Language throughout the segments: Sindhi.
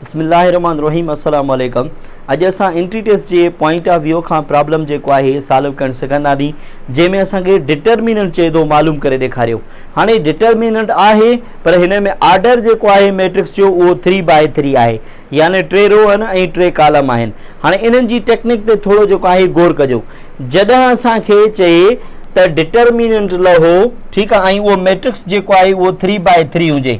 بسم الله الرحمن الرحيم السلام عليڪم اڄ اسان انٽريٽس جي پوائنٽ آف ويو کان پرابلم جيڪو آهي سالو ڪرڻ سکنداسين جنهن ۾ اسان کي ڊٽرميننٽ چئي ٿو معلوم ڪري ڏيکاريو هاڻي ڊٽرميننٽ آهي پر هن ۾ آرڊر جيڪو آهي ميٽرڪس جو اهو 3 باء 3 آهي يعني ٽي رو آهن ۽ ٽي ڪالم آهن هاڻي انهن جي ٽيڪنڪ تي ٿورو جيڪو آهي غور ڪجو جڏهن اسان کي چئي ته ڊٽرميننٽ لهو ٺيڪ آهي ۽ اهو ميٽرڪس جيڪو آهي اهو 3 باء 3 هجي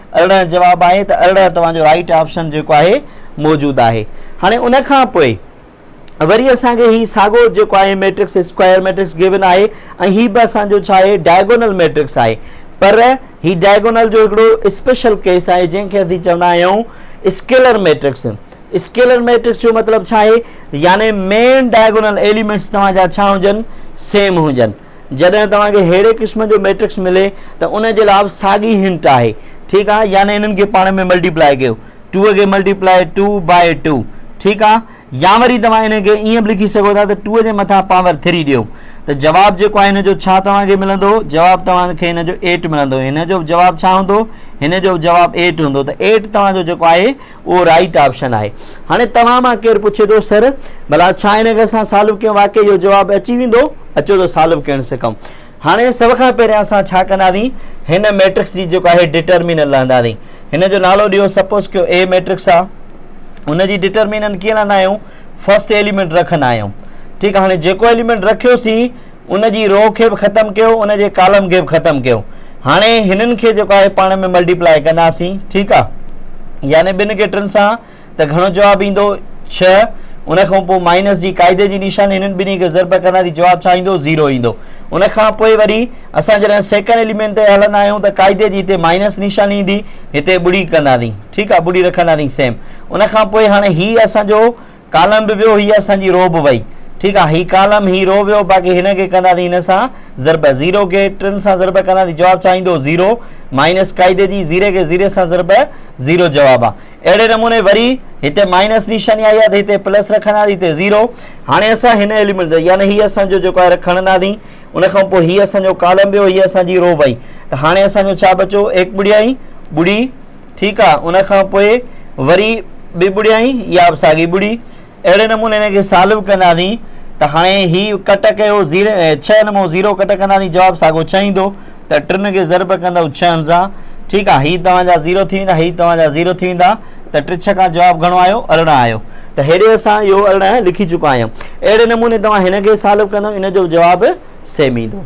ارڙهن جواب آهي ته ارڙهن توهان جو رائٽ آپشن جيڪو آهي موجود آهي هاڻي ان کان پوء وري اسان کي هي ساڳو جيڪو آهي ميٽرڪس اسڪوائر ميٽرڪس گيون آهي ۽ هي به اسان جو ڇا آهي ڊائگونل ميٽرڪس آهي پر هي ڊائگونل جو هڪڙو اسپيشل ڪيس آهي جنهن کي اسين چوندا آهيون اسڪيلر ميٽرڪس اسڪيلر ميٽرڪس جو مطلب ڇا آهي يعني مين ڊائگونل ايليمينٽس توهان جا ڇا هجن سيم هجن جڏهن توهان کي ههڙي قسم جو ميٽرڪس ملي ته ان جي لاء به ساڳي هنٽ آهي ٺيڪ آهي يعني انهن کي پاڻ ۾ ملٽيپلائي ڪيو ٽو کي ملٽيپلائي ٽو باء ٽو ٺيڪ آهي يا وري توهان ان کي ائين به لکي سگهو ٿا ته ٽو جي مٿان پاور ٿري ڏيو ته جواب جيڪو آهي هن جو ڇا توهان کي ملندو جواب توهان کي هن جو ايٽ ملندو هن جو جواب ڇا هوندو هن جو جواب ايٽ هوندو ته ايٽ توهان جو جيڪو آهي اهو رائيٽ آپشن آهي هاڻي توهان مان ڪير پڇي ٿو سر ڀلا ڇا هن کي اسان سالو ڪيون واقعي جو جواب اچي ويندو اچو ته سالو ڪرڻ سکون هاڻي سڀ کان پهريان اسان ڇا ڪنداسين هن ميٽرڪس جي جيڪو آهي ڊٽرمينل لهنداسين هن جو نالو ڏيو سپوز ڪيو اي ميٽرڪس آ ان جي ڊٽرمينل ڪيئن لهندا آهيون فرسٽ ايليمنٽ رکندا آهيون ٺيڪ آهي هاڻي جيڪو ايليمنٽ رکيوسين ان جي رو کي به ختم ڪيو ان جي ڪالم کي به ختم ڪيو هاڻي هنن کي جيڪو آهي پاڻ ۾ ملٽيپلائي ڪنداسين ٺيڪ آ يعني ٻن کي ٽن سان ته گهڻو جواب ايندو ڇهه ان کان پوء مائنس جي قاعدي جي نشان هنن ٻنهي کي ضرب ڪنداسين جواب ڇا ايندو زيرو ايندو ان کان پوء وري اسان جڏهن سيڪنڊ ايليمنٽ تي هلندا آهيون ته قاعدي جي هتي مائنس نشان ايندي هتي ٻڙي ڪنداسين ٺيڪ آ ٻڙي رکنداسين سيم ان کان پوء هاڻي هي اسانجو ڪالم به ويو هي اسان جي رو به وئي ٺيڪ آ هي ڪالم هي رو ويو باقي هن کي ڪندا ٿي هن سان ضرب زيرو کي ٽن سان ضرب ڪندا ٿي جواب ڇا ايندو زيرو مائنس قاعدي جي زيري کي زيري سان ضرب زيرو جواب آ اهڙي نموني وري هتي مائنس نشاني آئي آ ته هتي پلس رکندا ٿي هتي زيرو هاڻي اسان هن ايليمنٽ يعني هي اسان جو جيڪو آهي کڻندا ٿي ان کان پوء هي اسان جو ڪالم ويو هي اسان جي رو وئي ته هاڻي اسان جو ڇا بچو ايڪ ٻڙيائي ٻڙي ٺيڪ آ ان کان پوء وري ٻي ٻڙيائي يا ساڳي ٻڙي اهڙي نموني هن کي سالو ڪنداسين ته هاڻي هي ڪٽ ڪيو زيرو ڇهه نمو زيرو ڪٽ ڪنداسين جواب ساڳو ڇهه ايندو ته ٽن کي ضرب ڪندو ڇهن سان ٺيڪ آ هي توهان جا زيرو ٿي ويندا هي توهان جا زيرو ٿي ويندا ته ٽي ڇهه کان جواب گهڻو آيو ارڙهن آيو ته هيڏي اسان اهو ارڙهن لکي چڪا آهيون اهڙي نموني توهان هن کي سالو ڪندو ان جو جواب سيم ايندو